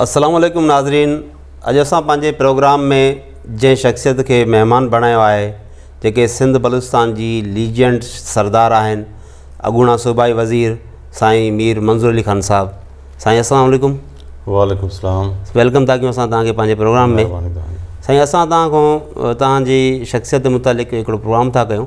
السلام عليڪم ناظرين اڄ اسان پنهنجي پروگرام ۾ جنهن شخصيت کي مهمان بڻايو آهي جيڪي سنڌ بلوچستان جي ليجينڊ سردار آهن اڳوڻا صوبائي وزير سائين مير منظور علي خان صاحب سائين السلام عليڪم وعليڪم السلام ويلڪم تاڪي اسان تان کي پنهنجي پروگرام ۾ سائين اسان تان کان تان جي شخصيت متعلق هڪڙو پروگرام تھا ڪيون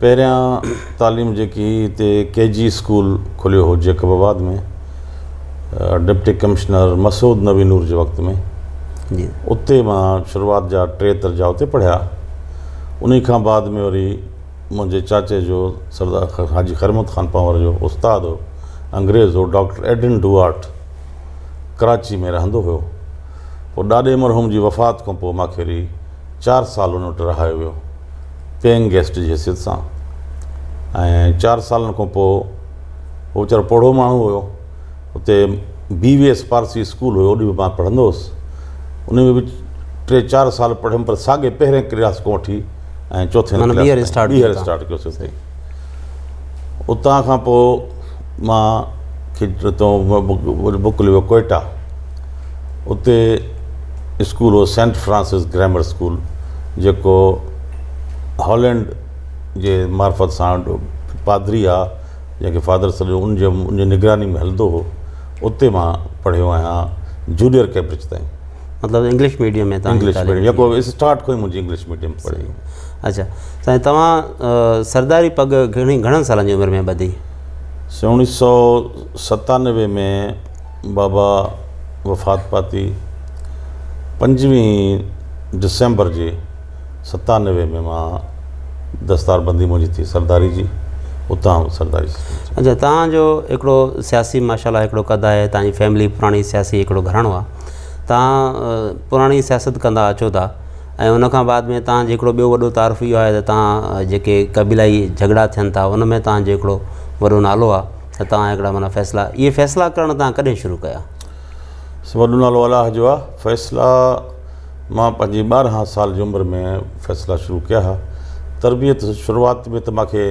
پهريان تعليم جيڪي هتي ڪي جي اسڪول کليو هو Jacobabad ۾ deputy commissioner Masood Nabi Noor جي وقت ۾ جي اتي مان شروعات جا ٽي درجا اتي پڙهيا انهي کان بعد ۾ وري منهنجي چاچي جو سردار حاجي خيرمحمد خان پنهور جو استاد هو انگريز هو ڊاڪٽر ايڊن ڊوئارٽ ڪراچي ۾ رهندو هيو پوء ڏاڏي مرحوم جي وفات کان پوء ماکيري چار سال ان وٽ رهايو ويو پيئنگ گيسٽ جي حيثيت سان ۽ چار سالن کان پوء هو ويچارو پوڙهو ماڻهو هيو اتي B V S Parsi school هيو اوڏي به مان پڙهندو هوس ان ۾ به ٽي چار سال پڙهيم پر ساڳي پهرين ڪلاس کان وٺي ۽ چوٿين ڪلاس ٻيهر اسٽارٽ ڪيو سيس اتان کان پوء مان موڪليو ڪوئيٽا اتي اسڪول هو سينٽ فرانسس گرامر اسڪول جيڪو هالينڊ جي معرفت سان پادري آ جنهن کي فادر سڏيو ان جي نگراني ۾ هلندو هو اتي مان پڙهيو آهيان جونيئر ڪيمبرج تائين مطلب انگلش ميڊيم ۾ تان انگلش ميڊيم يڪو اسٽارٽ کوئي منجي انگلش ميڊيم پڙھي اچھا سائين توهان سرداري پڳ گھڻي گھڻن سالن جي عمر ۾ ٻڌي سائين اڻيھه سؤ ستانوي ۾ بابا وفات پاتي پنجويھه ڊسمبر جي ستانوي ۾ مان دستار بندي منجي ٿي سرداري جي اتان سرداري اچھا توهان جو ھڪڙو سياسي ماشاء الله ھڪڙو قد آھي توهان جي فيملي پراڻي سياسي ھڪڙو گھراڻو آھي توهان پراڻي سياست ڪندا اچو ٿا ۽ ان کان بعد ۾ توهان جو هڪڙو ٻيو وڏو تعارف اهو آهي ته توهان جيڪي قبيلائي جهڳڙا ٿين ٿا ان ۾ توهان جو هڪڙو وڏو نالو آهي ته توهان هڪڙا معنيٰ فيصلا اهي فيصلا ڪرڻ توهان ڪڏهن شروع ڪيا؟ وڏو نالو الله جو آهي فيصلا مان پنهنجي ٻارهن سال جي عمر ۾ فيصلا شروع ڪيا ها تربيت شروعات ۾ ته مانکي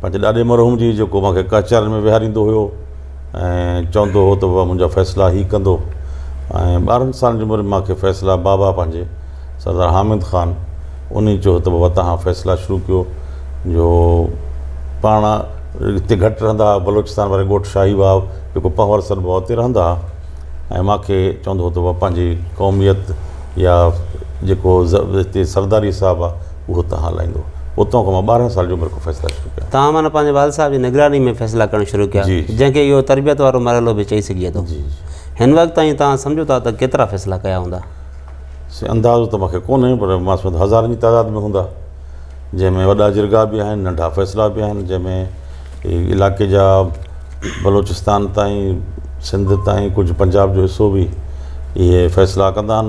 پنهنجي ڏاڏي مرحوم جي جيڪو مان کي ڪچهرين ۾ ويهاريندو هيو ۽ چوندو هو ته بابا منهنجا فيصلا هي ڪندو ۽ ٻارهن سالن جي عمر ۾ مان کي فيصلا بابا پنهنجي سردار حامد خان انهي چيو ته بابا توهان فيصلا شروع ڪيو جو پاڻ هتي گهٽ رهندا هئا بلوچستان واري ڳوٺ شاهي واهه جيڪو پنهور سڏبو آهي اتي رهندا هئا ۽ مان کي چوندو هو ته بابا پنهنجي قوميت يا جيڪو هتي سرداري حساب آهي اهو توهان هلائيندو. اتان کان مان ٻارهن سال جي عمر کان فيصلا شروع ڪيا. توهان معنيٰ پنهنجي والد صاحب جي نگراني ۾ فيصلا ڪرڻ شروع ڪيا، جنهن کي اهو تربيت وارو مرحلو به چئي سگهجي ٿو. هن وقت تائين توهان سمجهو ٿا ته ڪيترا فيصلا ڪيا هوندا؟ سائين اندازو ته مان کي ڪونهي پر مان سمجهان ٿو هزارن جي تعداد ۾ هوندا. جنهن ۾ وڏا جرڳا به آهن، ننڍا فيصلا به آهن، جنهن ۾ علائقي جا بلوچستان تائين، سنڌ تائين ڪجهه پنجاب جو حصو به اهي فيصلا ڪندا آهن.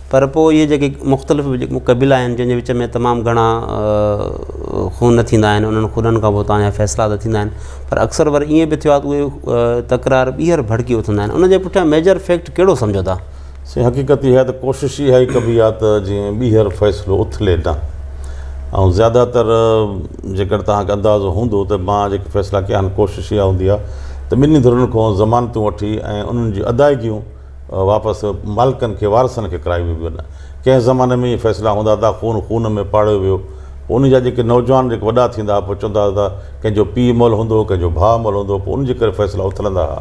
پر پوء اهي جيڪي مختلف قبيلا آهن جن جي وچ ۾ تمام گهڻا خون ٿيندا آهن انهن خونن کان پوء تان جا فيصلا ته ٿيندا آهن پر اڪثر وري ائين به ٿيو آهي ته اهي تڪرار ٻيهر ڀڙڪي اٿندا آهن انهن جي پٺيان ميجر فيڪٽ ڪهڙو سمجهو ٿا؟ سائين حقيقت اها آهي ته ڪوشش اها ئي ڪبي آهي ته جيئن ٻيهر فيصلو اٿلي نه ۽ زياده تر جيڪڏهن توهان کي اندازو هوندو ته مان جيڪي فيصلا ڪيا آهن ڪوشش اها هوندي آهي ته ٻنهي ڌرين کان ضمانتون وٺي ۽ انهن جون ادائيگيون واپس مالڪن کي، وارثن کي ڪرائي ويو وڃي. ڪنهن زماني ۾ اهي فيصلا هوندا هئا ته خون خون ۾ پاڙيو ويو. پوء ان جا جيڪي نوجوان جيڪي وڏا ٿيندا هئا پوء چوندا هئا ته ڪنهن جو پيء مئل هوندو هو، ڪنهن جو ڀاء مئل هوندو هو، پوء ان جي ڪري فيصلا اٿلندا هئا.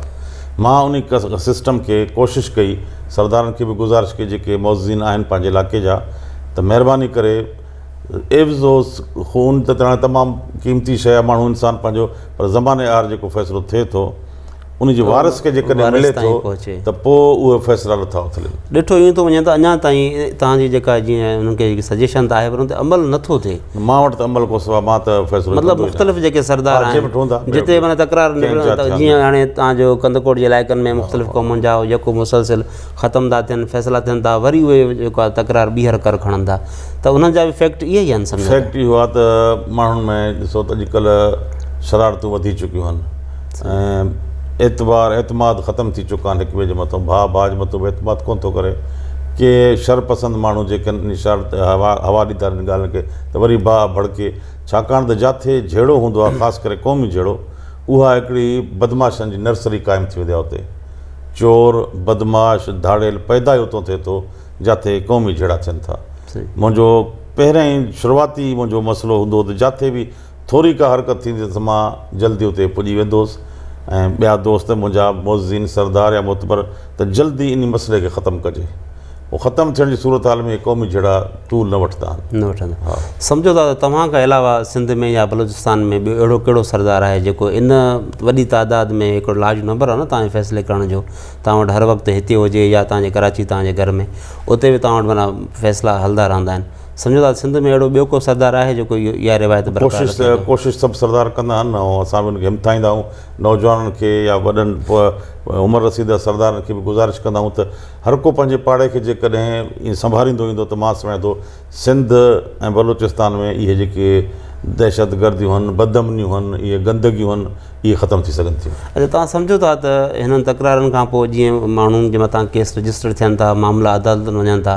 مان ان سسٽم کي ڪوشش ڪئي، سردارن کي به گذارش ڪئي جيڪي معززين آهن پنهنجي علائقي جا ته مهرباني ڪري عيوض اوس خون ته تمام قيمتي شيء آهي ماڻهو انسان پنهنجو پر زماني آهر جيڪو فيصلو ٿئي ٿو، ان جي وارث کي جيڪڏهن ملي ٿو ته پوء اهي فيصلا نٿا اٿلن. ڏٺو ايئن ٿو وڃي ته اڃا تائين توهان جي جيڪا جيئن انهن کي جيڪي سجيشن ته آهي پر ان تي عمل نٿو ٿئي. مان وٽ ته عمل ڪو سوا مان ته فيصلو مطلب مختلف جيڪي سردار آهن جتي معنيٰ تڪرار نڪرن جيئن هاڻي توهان جو ڪنڌڪوٽ جي علائقن ۾ مختلف قومن جا يڪو مسلسل ختم ٿا ٿين فيصلا ٿين ٿا وري اهي جيڪو آهي تڪرار ٻيهر ڪر کڻن ٿا ته انهن جا به فيڪٽ اهي آهن سمجهو فيڪٽ اهو آهي ته ماڻهن ۾ ڏسو ته اڄڪلهه شرارتون وڌي چڪيون آهن ۽ اعتبار اعتماد ختم ٿي چڪا آهن هڪ ٻئي جي مٿان ڀاء ڀاء جي مٿان به اعتماد ڪونه ٿو ڪري ڪي شر پسند ماڻهو جيڪي آهن انهي شر تي هوا هوا ڏيندا آهن انهن ڳالهين کي ته وري ڀاء ڀڙڪي ڇاڪاڻ ته جاٿي جهيڙو هوندو آهي خاص ڪري قومي جهيڙو اها هڪڙي بدمعاشن جي نرسري قائم ٿي ويندي آهي اتي چور بدمعاش ڌاڙيل پيدا ئي اتو ٿئي ٿو جاٿي قومي جهيڙا ٿين ٿا منهنجو پهريائين شروعاتي منهنجو مسئلو هوندو هو ته جاٿي به ٿوري ڪا حرڪت ٿيندي ته مان جلدي اتي پڄي ويندو هوس ۽ ٻيا دوست منهنجا معززين سردار يا معتبر ته جلدي انهي مسئلي کي ختم ڪجي. هو ختم ٿيڻ جي صورتحال ۾ اهي قومي جهيڙا ٽول نه وٺندا آهن. نه وٺندا آهن. ها. سمجهو ٿا ته توهان کان علاوه سنڌ ۾ يا بلوچستان ۾ ٻيو اهڙو ڪهڙو سردار آهي جيڪو ان وڏي تعداد ۾ هڪڙو لارج نمبر آهي نه توهان جي فيصلي ڪرڻ جو توهان وٽ هر وقت هتي هجي يا توهان جي ڪراچي توهان جي گهر ۾ اتي به توهان وٽ معنيٰ فيصلا هلندا رهندا آهن. سمجهو ٿا ته سنڌ ۾ اهڙو ٻيو ڪو سردار آهي جيڪو اها روايت برقرار رکي ٿو. ڪوشش ڪوشش سڀ سردار ڪندا آهن ۽ اسان به انهن کي همٿائيندا آهيون. نوجوانن کي يا وڏن عمر رسيده سردارن کي به گذارش ڪندا آهيون ته هر ڪو پنهنجي پاڙي کي جيڪڏهن ائين سنڀاريندو ايندو ته مان سمجهان ٿو سنڌ ۽ بلوچستان ۾ اهي جيڪي دهشتگرديون هن، بدامنيون هن، اهي گندگيون هن اهي ختم ٿي سگهن ٿيون. اچا توهان سمجهو ٿا ته هنن تڪرارن کان پوء جيئن ماڻهن جي مٿان ڪيس رجسٽر ٿين ٿا، معاملا عدالتن وڃن ٿا،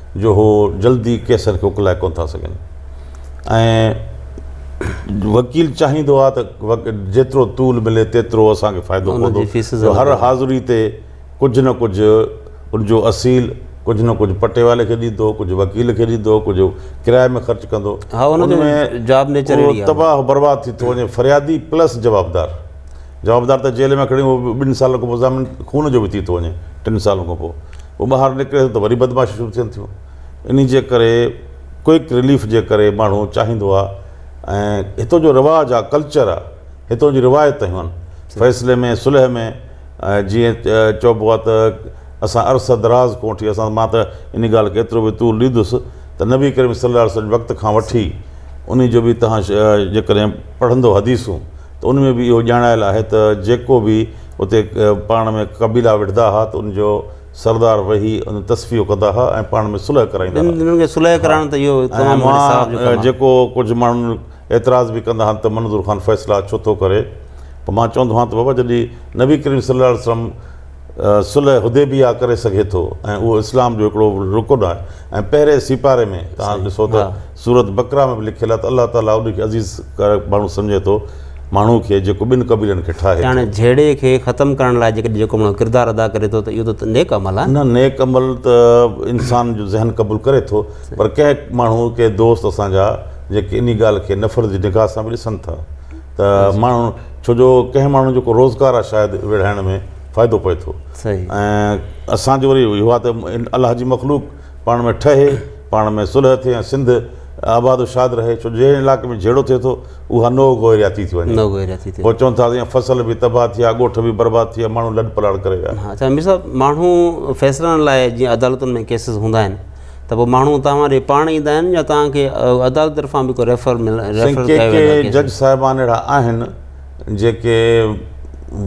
جو هو جلدي قيصر کي اڪلائي ڪونه ٿا سگهن ۽ وڪيل چاهيندو آهي ته جيترو طول ملي تيترو اسان کي فائدو پوندو جو هر حاضري تي ڪجهه نه ڪجهه ان جو اصيل ڪجهه نه ڪجهه پٽيوالي کي ڏيندو ڪجهه وڪيل کي ڏيندو ڪجهه ڪرايي ۾ خرچ ڪندو ان ۾ تباهه برباد ٿي ٿو وڃي فريادي پلس جوابدار جوابدار ته جيل ۾ کڻي اهو به ٻن سالن کان پوء ضامن خون جو به ٿي ٿو وڃي، ٽن سالن کان پوء هو ٻاهر نڪري ٿو ته وري بدمعاشيون شروع ٿين ٿيون. انهي جي ڪري ڪوئڪ رليف جي ڪري ماڻهو چاهيندو آهي ۽ هتو جو رواج آهي، ڪلچر آهي، هتو جون روايت هيون فيصلي ۾ صلح ۾ جيئن چئبو آهي ته اسان عرصه دراز ڪونه ٺهي اسان مان ته انهي ڳالهه کي ايترو به طول ڏيندس ته نبي ڪريم صلي الله عليه وسلم جي وقت کان وٺي انهي جو به توهان جيڪڏهن پڙهندو حديثون ته ان ۾ به اهو ڄاڻايل آهي ته جيڪو به اتي پاڻ ۾ قبيلا وڙهدا ها ته ان جو سردار ويهي ان تصفيو ڪندا ها ۽ پاڻ ۾ صلح ڪرائيندا ها. انهن کي صلح ڪرائڻ ته اهو تمام وڏي ۽ ثواب جو مان ڪم آهي. جيڪو ڪجهه ماڻهن اعتراض به ڪندا هن ته منظور خان فيصلا ڇو ٿو ڪري پوء مان چوندو هان ته بابا جڏهن نبي ڪريم صلي الله عليه وسلم صلح حديبيه ڪري سگهي ٿو ۽ اهو اسلام جو هڪڙو رڪن آهي ۽ پهرين سيپاري ۾ توهان ڏسو ته سورة بقره ۾ به لکيل آهي ته الله تعاليٰ ان کي عزيز ڪارڪ ماڻهو سمجهي ٿو، ماڻهوء کي، جيڪو ٻن قبيلن کي ٺاهي ٿو. يعنيٰ جهيڙي کي ختم ڪرڻ لاء جيڪڏهن جيڪو ماڻهو ڪردار ادا ڪري ٿو ته اهو ته نيڪ عمل آهي. نه نيڪ عمل ته انسان جو ذهن قبول ڪري ٿو پر ڪنهن ماڻهو ڪي دوست اسان جا جيڪي انهي ڳالهه کي نفرت جي نگاهه سان به ڏسن ٿا ته ماڻهو ڇو جو ڪنهن ماڻهو جو ڪو روزگار آهي شايد ويڙهائڻ ۾ فائدو پئي ٿو ۽ اسان جو وري اهو آهي ته الله جي مخلوق پاڻ ۾ ٺهي پاڻ ۾ صلح ٿئي ۽ سنڌ آباد و شاد رهي ڇو جنهن علائقي ۾ جهيڙو ٿئي ٿو اها نوء گوهرياتي ٿي وڃي پوء چون ٿا ته فصل به تباهه ٿي ويا ڳوٺ به برباد ٿي ويا ماڻهو لڏ پلاڙ ڪري ويا اچا مير صاحب ماڻهو فيصلن لاء جيئن عدالتن ۾ ڪيسز هوندا آهن ته پوء ماڻهو تهان ڏي پاڻ ايندا آهن يا تهان کي عدالت طرفان به ڪو ريفر مل ريفر ڪيو ويندو آهي جج صاحبان اهڙا آهن جيڪي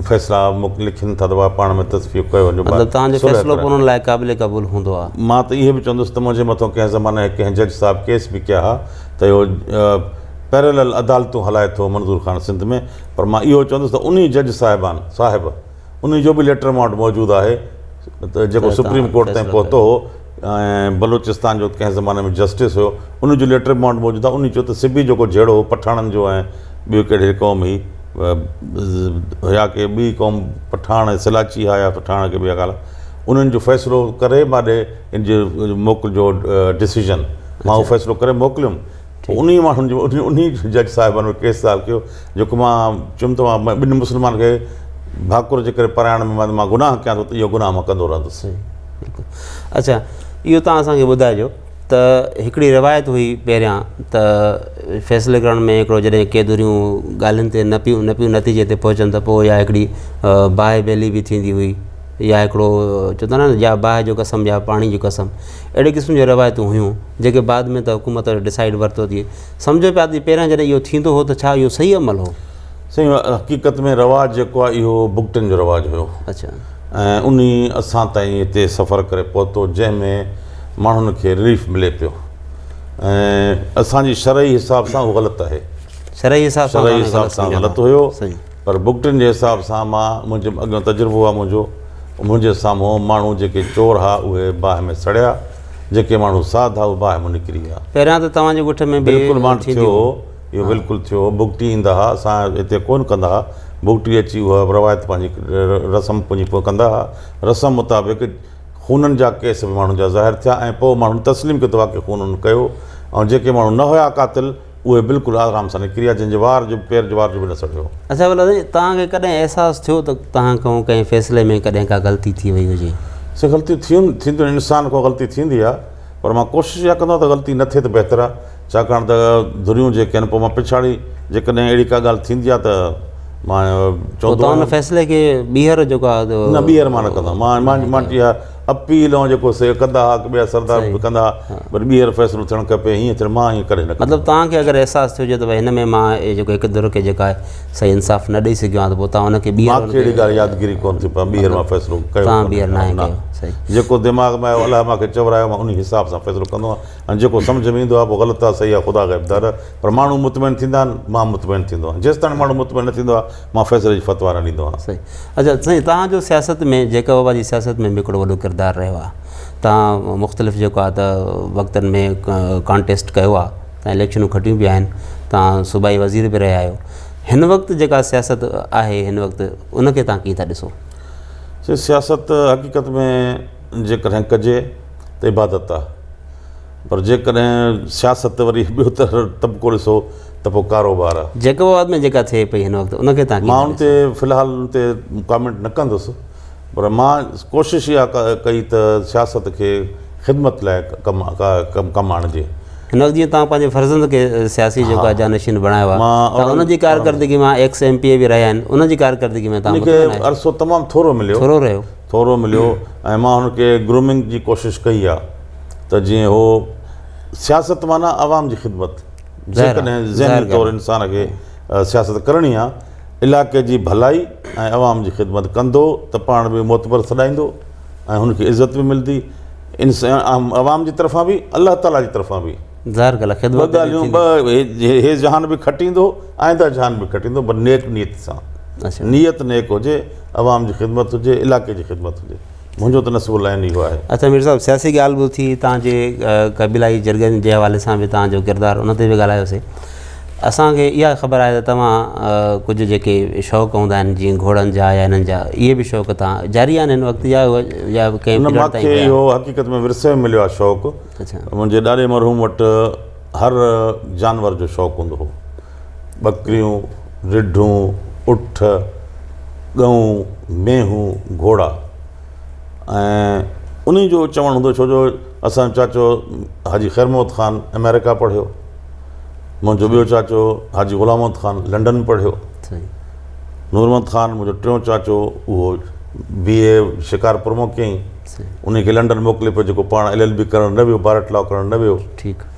فيصلا لکن ٿا ته اها پاڻ ۾ تصفيو ڪيو وڃي مطلب تهان جو فيصلو به انهن لاء قابل قبول هوندو آهي مان ته اهي به چوندس ته منهنجي مٿو ڪنهن زماني ڪنهن جج صاحب ڪيس به ڪيا ها ته اهو پيرلل عدالتون هلائي ٿو منظور خان سنڌ ۾ پر مان اهو چوندس ته انهي جج صاحبان صاحب انهي جو به ليٽر مان وٽ موجود آهي ته جيڪو سپريم ڪورٽ تائين پهتو هو ۽ بلوچستان جو ڪنهن زماني ۾ جسٽس هيو انهي جو ليٽر به مان وٽ موجود آهي انهي چيو ته سبي جيڪو جهيڙو هو پٺاڻن جو ۽ ٻيو ڪهڙي قوم هئي هيا ڪي ٻي قوم پٺاڻ ۽ سلاچي هيا يا پٺاڻ ڪي ٻيا ڪالا انهن جو فيصلو ڪري ماڏي ان جي موڪل جو ڊسيزن مان اهو فيصلو ڪري موڪليم انهيء ماڻهن جو انهيء جج صاحب جو ڪيس دائر ڪيو جيڪو مان چيم ته مان ٻنهي مسلمانن کي ڀاڪر جي ڪري پرائڻ ۾ مان گناهه ڪيان ٿو ته اهو گناهه مان ڪندو رهندس. اچا اهو توهان اسان کي ٻڌائجو ته هڪڙي روايت هئي پهريان ته فيصلي ڪرڻ ۾ هڪڙو جڏهن ڪي ڌريون ڳالهين تي نه پيون نه پيون نتيجي تي پهچن ته پوء يا هڪڙي باهه بيلي به ٿيندي هئي يا هڪڙو چون ٿا نه يا باهه جو قسم يا پاڻي جو قسم اهڙي قسم جون روايتون هيون جيڪي بعد ۾ ته حڪومت ڊسائيڊ ورتو ٿئي سمجهو پيا ته پهريان جڏهن اهو ٿيندو هو ته ڇا اهو صحيح عمل هو؟ سائين حقيقت ۾ رواج جيڪو آهي اهو بگٽن جو رواج هيو اڇا ۽ ان ئي اسان تائين هتي سفر ڪري پهتو جنهن ۾ ماڻهن کي رليف ملي پيو ۽ اسان جي شرعي حساب سان اهو غلط آهي شرعي حساب سان شرعي حساب سان غلط هيو پر بگٽن جي حساب سان مان منهنجي اڳيون تجربو آ منهنجو منهنجي سامهون ماڻهو جيڪي چور ها اهي باهه ۾ سڙيا جيڪي ماڻهو ساڌ ها اهي باهه مون نڪري ويا. پهريان ته توهان جي ڳوٺ ۾ به اهو ٿينديون هيون. بلڪل مان ٿيو اهو بلڪل ٿيو هو بگٽي ايندا ها اسان هتي ڪون ڪندا ها بگٽي اچي اها روايت پنهنجي رسم پنهنجي پوء ڪندا ها رسم مطابق خونن جا ڪيس به ماڻهن جا ظاهر ٿيا ۽ پوء ماڻهن تسليم ڪيو ته واقعي خون هن ڪيو ۽ جيڪي ماڻهو نه هيا قاتل اهي بلڪل آرام سان نڪري ويا، جن جي وار جو به پير جو وار جو به نه سڙيو. اصغر الله سائين، توهان کي ڪڏهن احساس ٿيو ته توهان کان ڪنهن فيصلي ۾ ڪڏهن ڪا غلطي ٿي وئي هجي؟ سائين غلطيون ٿين ٿينديون آهن، انسان کان غلطي ٿيندي آهي، پر مان ڪوشش اها ڪندو آهيان ته غلطي نه ٿئي ته بهتر آهي، ڇاڪاڻ ته ڌريون جيڪي آهن پوء مان پڇاڙي جيڪڏهن اهڙي ڪا ڳالهه ٿيندي آهي ته مان چوندو آهيان. پوء توهان ان فيصلي کي ٻيهر جيڪو آهي. نه ٻيهر مان نه ڪندو آهيان، مان مان مان مان ٽيهه اپيل ۽ جيڪو سي ڪندا ھا ڪي ٻيا سردار صحيح. به ڪندا ھا ھا. پر ٻيھر فيصلو ٿيڻ کپي ھيئن ٿيڻ مان ھيئن ڪڏھن نه ڪندس. مطلب توھان کي اگر احساس ٿيو ھجي ته ڀاء ھن ۾ مان اھي جيڪو ھڪ ڌر کي جيڪا آھي صحيح انصاف نه ڏئي سگھيو آھيان ته پوء توھان ان کي ٻيھر مان ان کي اھڙي کي ڳالھه يادگيري ڪون ٿي پاء ٻيھر مان فيصلو ڪيو توھان ڪونھي ٻيھر ناھي نه. ڪيو صحيح. جيڪو دماغ ۾ آيو الله مان کي چورايو مان انھي حساب سان فيصلو ڪندو آھيان ۽ جيڪو سمجھ ۾ ايندو آھي پوء غلط آھي صحيح آھي خدا غيب دار پر ماڻھو مطمئن ٿيندا آھن مان مطمئن ٿيندو آھيان جيستائين ماڻھو مطمئن نه ٿيندو آھي مان فيصلي جي فتوا نه ڏيندو آهيان. صحيح اچا سائين تهان جو سياست ۾ جيڪب آباد جي سياست ۾ به هڪڙو وڏو ڪردار رهيو آهي تهان مختلف جيڪو آهي ته وقتن ۾ ڪانٽيسٽ ڪيو آهي تهان اليڪشنون کٽيون به آهن تهان صوبائي وزير به رهيا آهيو هن وقت جيڪا سياست آهي هن وقت ان کي تهان ڪيئن ٿا ڏسو سياست حقيقت ۾ جيڪڏهن ڪجي ته عبادت آهي پر جيڪڏهن سياست وري ٻيو طبقو ڏسو ته پوء ڪاروبار آ. جيڪب آباد ۾ جيڪا ٿئي پئي هن وقت ان کي تهان ڪيئن ٿا ڏسو؟ مان ان تي في الحال ان تي ڪامينٽ نه ڪندس پر مان ڪوشش اها ڪئي ته سياست کي خدمت لاء ڪم آڻجي. هن وقت جيئن تهان پنهنجي فرزند کي سياسي جيڪو آ جانشين بڻايو آ ته ان جي ڪارڪردگي مان ايڪس ايم پي اي به رهيا آهن ان جي ڪارڪردگي ۾ تهان مطمئن آهيو؟ عرصو تمام ٿورو مليو. ٿورو رهيو. ٿورو مليو ۽ مان هن کي گرومنگ جي ڪوشش ڪئي آ. ته جيئن هو سياست معنيٰ عوام جي خدمت جيڪڏهن ذهني طور انسان کي سياست ڪرڻي آهي علائقي جي ڀلائي ۽ عوام جي خدمت ڪندو ته پاڻ به معتبر سڏائيندو ۽ هن کي عزت به ملندي عوام جي طرفان به الله تعاليٰ جي طرفان به ظاهر ڳالهه آهي ٻه ڳالهيون ٻه هي جهان به کٽيندو آئنده جهان به کٽيندو پر نيڪ نيت سان نيت نيڪ هجي عوام جي خدمت هجي علائقي جي خدمت هجي منهنجو ته نصيب العين اهو آهي. اچا مير صاحب سياسي ڳالهه به اٿي توهان جي قبيلائي جرڳن جي حوالي سان به توهان جو ڪردار ان تي به ڳالهايوسي اسان کي اها خبر آهي ته توهان ڪجهه جيڪي شوق هوندا آهن جيئن گهوڙن جا يا هنن جا اهي به شوق توهان جاري آهن هن وقت يا يا ڪنهن نه مون کي اهو حقيقت ۾ ورثي ۾ مليو آهي شوق منهنجي ڏاڏي مرحوم وٽ هر جانور جو شوق هوندو هو ٻڪريون، رڍون، اٺ، ڳئون، مينهون، گهوڙا ۽ انهن جو چوڻ هوندو ڇو جو اسان جو چاچو حاجي خير محمد خان امريڪا پڙهيو منهنجو ٻيو چاچو حاجي غلام محمد خان لنڊن پڙهيو نور محمد خان منهنجو ٽيون چاچو اهو بي اي شڪارپور مون ڪيائين انهي کي لنڊن موڪلي پيو جيڪو پاڻ ايل ايل بي ڪرڻ نه ويو بارٽ لا ڪرڻ نه ويو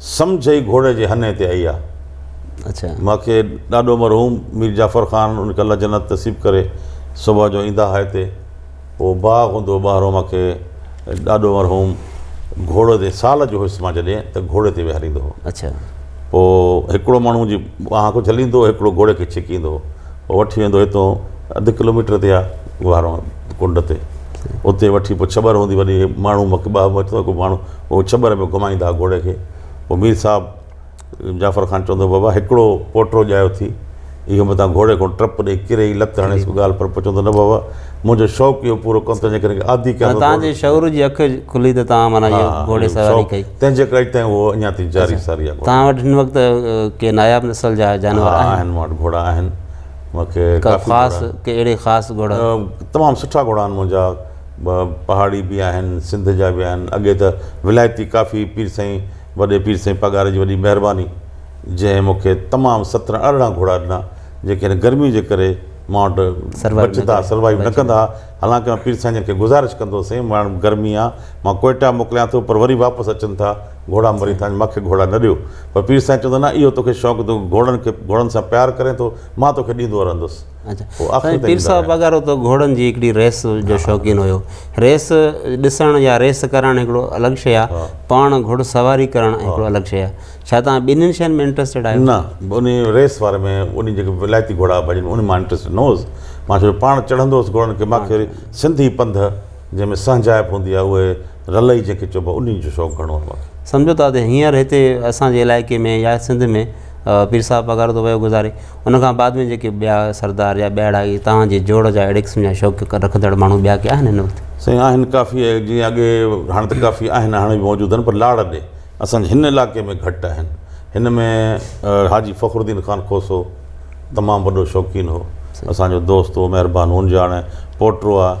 سمجهه ئي گهوڙي جي هنئين تي آئي آهي. مان کي ڏاڏو مرحوم مير جعفر خان ان کي الله جنت نصيب ڪري صبح جو ايندا ها هتي پوء باغ هوندو هو ٻاهرون مان کي ڏاڏو مرحوم گهوڙو تي سال جو هيس مان جڏهن ته گهوڙي تي ويهاريندو هو پوء هڪڙو ماڻهو جي ٻانهن کان جهليندو هو هڪڙو گهوڙي کي ڇڪيندو هو پوء وٺي ويندو هو هتو اڌ ڪلو ميٽر تي آهي ٻاهرون ڪنڊ تي اتي وٺي پوء ڇٻر هوندي وڏي ماڻهو مکي ٻاهه مٿو هڪ ماڻهو هو ڇٻر ۾ گهمائيندا ها گهوڙي کي. پوء مير صاحب جعفر خان چوندو هو، بابا هڪڙو پوٽرو ڄايو ٿي. اهو متان گهوڙي کان ٽپ ڏئي ڪري ئي لت هڻيس ڪو ڳالهه پر پوء چوندو هو، نه بابا منهنجو شوق اهو پورو ڪندو تنهنجي ڪري عادي ڪيان ٿو ڊوڙڻ جو. معنيٰ تنهنجي شعور جي اک کلي ته تان معنيٰ اهو گهوڙي سواري ڪئي. تنهنجي ڪري اڄ تائين اهو اڃا تائين جاري ساري آهي. تان وٽ هن وقت ڪي ناياب نسل جا جانور آهن؟ ها آهن مون وٽ گهوڙا آهن. مون کي ڪافي گهوڙا آهن. ڪا خاص ڪي اهڙي خاص گهوڙا؟ تمام سٺا گهوڙا آهن منهنجا. پهاڙي به آهن سنڌ جا به آهن اڳي ته ولايتي ڪافي پير سائين وڏي پير سائين پگهار جي وڏي مهرباني جنهن مونکي تمام سترهن ارڙهن گهوڙا ڏنا جيڪي هن گرمي جي ڪري مان وٽ بچدا سروائيو نه ڪندا ها حالانڪه مان پير سائين جن کي گذارش ڪندو هو سائين ماڻهن گرمي آ مان ڪوئيٽا موڪليان ٿو پر وري واپس اچن ٿا گهوڙا مري ٿا مونکي گهوڙا نه ڏيو پر پير سائين چوندو نه اهو توکي شوق تون گهوڙن کي گهوڙن سان پيار ڪرين ٿو مان توکي ڏيندو رهندس سائين پير صاحب وغيره ته گهوڙن جي هڪڙي ريس جو شوقين هيو ريس ڏسڻ يا ريس ڪرڻ هڪڙو الڳ شيء آهي پاڻ گهوڙ سواري ڪرڻ هڪڙو الڳ شيء آهي ڇا توهان ٻنهين شين ۾ انٽرسٽيڊ آهيو نه ان ريس واري ۾ ان جيڪي ولايتي گهوڙا ڀڄن ان مان انٽرسٽيڊ نه هوس مان ڇو جو پاڻ چڙهندو هوس گهوڙن کي ماکي سنڌي پنڌ جنهن ۾ سهنجائپ هوندي آهي اهي رلئي جيڪي چئبو آهي انهن جو شوق گهڻو آهي مونکي. سمجهو ته ادي هينئر هتي اسان جي علائقي ۾ يا سنڌ ۾ پير صاحب پگهار ٿو ويو گذاري ان کان بعد ۾ جيڪي ٻيا سردار يا ٻيهڙا اهي توهان جي جوڙ جا اهڙي قسم جا شوق رکندڙ ماڻهو ٻيا ڪي آهن هن وقت؟ سائين آهن ڪافي اهي جيئن اڳي هاڻي ته ڪافي آهن هاڻي به موجود آهن پر لاڙ ڏي اسان جي هن علائقي ۾ گهٽ آهن هن ۾ حاجي فخر الدين خان کوسو تمام وڏو شوقين هو اسان جو دوست هو مهربان هونجاڻي پوٽو آهي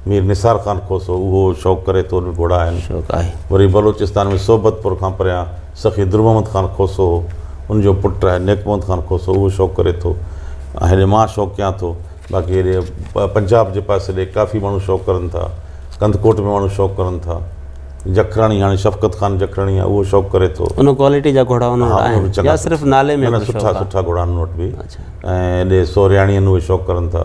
مير نثار خان کوسو، اهو شوق ڪري ٿو، ان وٽ گهوڙا آهن. شوق آهي. وري بلوچستان ۾ صحبت پور کان پريان سخي در محمد خان کوسو هو، ان جو پٽ آهي نيڪ محمد خان کوسو، اهو شوق ڪري ٿو ۽ هيڏي مان شوق ڪيان ٿو، باقي هيڏي پنجاب جي پاسي ڏي ڪافي ماڻهو شوق ڪرن ٿا، ڪنڌڪوٽ ۾ ماڻهو شوق ڪرن ٿا، جکرڻي هاڻي شفقت خان جکرڻي آهي، اهو شوق ڪري ٿو. ان ڪوالٽي جا گهوڙا ان وٽ آهن يا صرف نالي ۾ ڪجهه شوق آهي؟ نه نه سٺا سٺا گهوڙا آهن ان وٽ به ۽ هيڏي سورهياڻين اهي شوق ڪرن ٿا.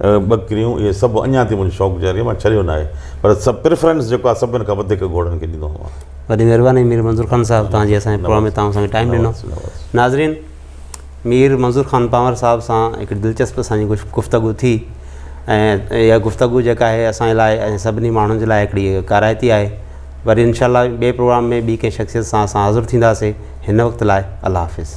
ٻڪريون اهي سڀ اڃا تائين منهنجو شوق جاري آهي مان ڇڏيو ناهي پر پريفرنس جيڪو آهي سڀني کان وڌيڪ گهوڙن کي ڏيندو آهيان وڏي مهرباني مير منظور خان صاحب تان جي اسان جي پروگرام ۾ تان سان ٽائيم ڏنو ناظرين مير منظور خان پنور صاحب سان هڪ دلچسپ اسان جي گفتگو ٿي ۽ اها گفتگو جيڪا آهي اسان جي لاء ۽ سڀني ماڻهن جي لاء هڪڙي ڪارائتي آهي وري انشاء الله ٻئي پروگرام ۾ ٻي ڪنهن شخصيت سان اسان حاضر ٿينداسي هن وقت لاء الله حافظ